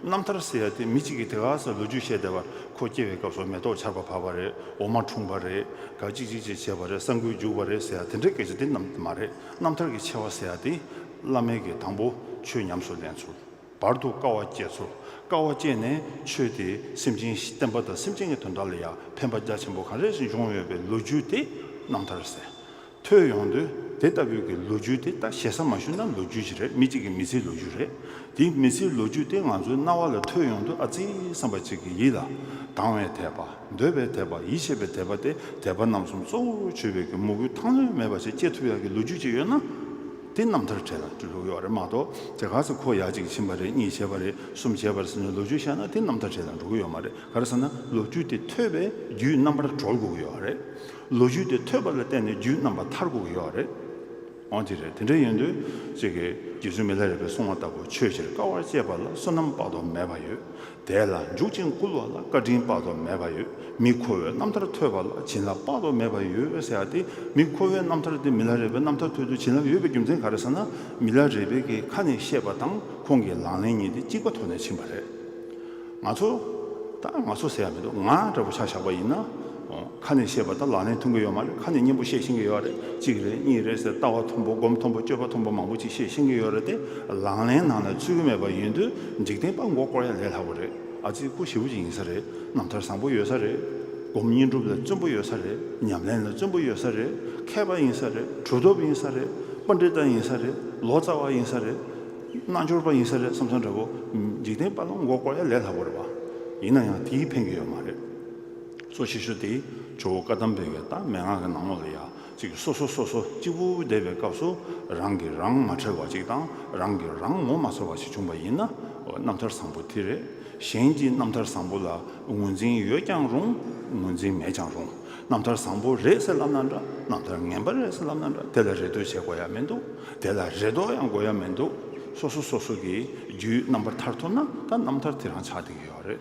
རྣམ་ཐར་ཟེར་ཡ་དེ་མི་གཅིག་གིས་དེ་ག་ས་ལོ་རྒྱུས་བཤད་བསྡད་པ་ཁོ་སྐྱེ་བའི་སྐབས་སུ་མེ་ཏོག་ཆར་པ་བབས་པ་རེད་འོ་མ་འཁྲུངས་པ་རེད་ག་གཅིག་གཅིག་ཅེས་བྱས་པ་རེད་ས་འགུལ་རྒྱུགས་པ་རེད་ཟེར་ཡ་དེ་འདྲའི་སྐད་ཆ་དེ་རྣམས་མ་རེད་རྣམ་ཐར་གྱི་ཆེ་བ་ཟེར་ཡ་དེ་བླ་མེད་ཀྱི་དང་པོ་ཆོས་ཉམས་སུ་ལེན་ཚུལ་བར་དུ་དཀའ་བ་སྐྱེས་ཚུལ་དཀའ་བ་སྐྱེས་ནས་ཆོས་དེ་སེམས་ཅན་བསྟན་པ་དང་སེམས་ཅན་གྱི་དོན་དག་ལ་ཡང་ཕན་པ་རྒྱ་ཆེན་པོ་གང་རེ་བྱུང་ཡོད་པའི་ལོ་རྒྱུས་དེ་རྣམ་ཐར་ཟེར་ཐོས་ཡོང་དུས་དེ་ལྟ་བུའི་གི་ལོ་རྒྱུས་དེ་ལྟ་ཞེ་ས་མ་ཞུ་ན་ལོ་རྒྱུས་ཅི་རེད་མི་གཅིག་གི་མི་ཚེའི་ལོ་རྒྱུས་རེད་དེ་མི་ཚེའི་ལོ་རྒྱུས་དེ་ང་ཚོའི་རྣ་བ་ལ་ཐོས་ཡོང་དུས་ཨ་ཙི་བསམ་པ་གཅིག་གི་ཡིད་ལ་དང་བའི་དད་པ་འདོད་པའི་དད་པ་ཡིད་ཆེས་པའི་དད་པ་སྟེ་དད་པ་རྣམ་གསུམ་གཙོ་བོར་བརྗོད་པའི་གི་མོ་གུ་ཐང་ལོན་མེད་པ་ཞིག་སྐྱེ་ཐུབ་ཡག་གི་ལོ་རྒྱུས་ཅིག་ཡོད་ན་དེ་རྣམ་ཐར་གྲས་ལ་བཀྲུ་ལུགས་ཡོག་རེད་མ་གཏོགས་དེ་ག་ཚོད་ཁོ་ཡག་གཅིག་ཕྱིན་པ་རེད་གཉིས་བྱས་པ་རེད་གསུམ་བྱས་པར་ཟེར་ནས་ལོ་རྒྱུས་བཤད་ན་དེ་རྣམ་ཐར་གྲས་ལ་འགྲོ་གི་ཡོད་མ་རེད་ག་རེ་ཟེར་ན་ལོ་རྒྱུས་དེ་ཐོས་པའི་རྒྱུས་རྣམ་པར་གྲོལ་དགོས་གི་ཡོག་རེད། ལོ་རྒྱུས་དེ་ཐོས་པ་ལ་བརྟེན་ནས་རྒྱུད་རྣམ་པ་མཐར་བསྒུག་གི་ཡོད་རེད། འོན་ཏེ་རེད་དེ་འདྲ་ཡིན་དུས་ཅིག་གི་རྗེ་བཙུན་མི་ལྷ་རས་པའི་གསུང་བ་ལྟ་བུ་ཆོས་ཕྱིར་དཀའ་བར་སྤྱད་པ་ལ་བསོད་ནམས་དཔག་ཏུ་མེད་པ་ཡོད་དེ་ལ་འཇུག་ཅིང་བསྐུལ་བ་ལ་བཀའ་དྲིན་དཔག་ཏུ་མེད་པ་ཡོད་མི་ཁོ་བོའི་རྣམ་ཐར་ཐོས་པ་ལ་བྱིན་རླབས་དཔག་ཏུ་མེད་པ་ཡོད་ཟེར་བ་དེ་མི་ཁོ་བོའི་རྣམ་ཐར་དེ་མི་ལྷ་རས་པའི་རྣམ་ཐར་ཐོས་དུས་བྱིན་རླབས་ཡོད་པའི་རྒྱུ་མཚན་ག་རེ་ཟེར་ན་མི་ལྷ་རས་པའི་གི་ཁ་ནས་བཤད་པ་དང་ཁོང་གི་ལག་ལེན་གཉིས་དེ་གཅིག་པ་ཐོག་ནས་ཕྱིན་པ་རེད། ང་ཚོ། ད་ང་ཚོ་ཟེར་ཡ་མི་འདུག་ང་འདྲ་བོ་ཆ་བཞག་པ་ཡིན་ན། ཁ་ནས་བཤད་པ་དང་ལག་ལེན་འཐུང་གི་ཡོད་མ་རེད་ཁ་ནས་སྙན་པོ་བཤད་ཤེས་ཀྱི་ཡོད་རེད་གཅིག་རེད་གཉིས་རེད་ཟེར་ལྟ་བ་མཐོན་པོ་སྒོམ་མཐོན་པོ་སྤྱོད་པ་མཐོན་པོ་མང་པོ་ཅིག་བཤད་ཤེས་ཀྱི་ཡོད་རེད་དེ་ལག་ལེན་ནང་ལ་ཚུད་ཀྱི་མེད་པ་ཡིན་དུས་འཇིག་རྟེན་དཔའ་མགོ་བསྐོར་ཡ་ལས་སླ་བོ་རེད་ཨ་ཙི་སྐུ་ཞི་བོ་ཅིག་ཡིན་ས་རེད་རྣམ་ཐར་བཟང་པོ་ཡོད་ས་རེད། སྒོམ་བསྙེན་སྒྲུབ་ལ་བརྩོན་པོ་ཡོད་ས་རེད་ཉམས་ལེན་ལ་བརྩོན་པོ་ཡོད་ས་རེད་མཁས་པ་ཡིན་ས་རེད་གྲུབ་ཐོབ་ཡིན་ས་རེད་དཔའ་འདྲེ་ལྟ་ཡིན་ས་རེད་ལོ་ཙཱ་བ་ཡིན་ས་རེད། རྣལ་འབྱོར་པ་ཡིན་ས་རེད་བསམ་ས་འདྲ་བོ། འཇིག་རྟེན་པ་ལ་མགོ་བསྐོར་ཡ་ལས་སླ་པོ་རེད་བ། ཡིན་ན་ཡང་དེའི་ཕན་གྱི་ཡོད་མ་རེད། གཙོ་ཆེ་ཤོས་དེ་ཇོ་བོ་བཀའ་གདམས་པའི་གདམས་ངག་གི་ནང་ངོ་ལ་ཡ་གཅིག་གིས་སོ་སོ་སོ་སོ་གཅིག་པུ་བསྡད་པའི་སྐབས་སུ་རང་གིས་རང་མ་ཁྲེལ་བ་ཅིག་དང་རང་གིས་རང་ངོ་མ་ཚོར་བ་ཞིག་བྱུང་བ་ཡིན་ན་རྣམ་ཐར་བཟང་པོ་དེ་རེད། གཞན་གྱི་རྣམ་ཐར་བཟང་པོ་ལ་ངོས་འཛིན་ཡོད་ཀྱང་རུང་ངོས་འཛིན་མེད་ཀྱང་རུང་རྣམ་ཐར་བཟང་པོ་རེད་ཟེར་ལབ་ན་འདྲ་རྣམ་ཐར་ངན་པ་རེད་ཟེར་ལབ་ན་འདྲ་དེ་ལ་རེ་ལྟོས་བྱེད་དགོས་ཡ་མི་འདུག་དེ་ལ་རེ་དོགས་ཡང་དགོས་ཡ་མི་འདུག་སོ་སོ་སོ་སོ་གིས་རྒྱུའི་རྣམ་པར་ཐར་ཐུབ་ན་ད་རྣམ་ཐར་དེ་རང་ཆགས་འདི་གི་ཡོད་རེད།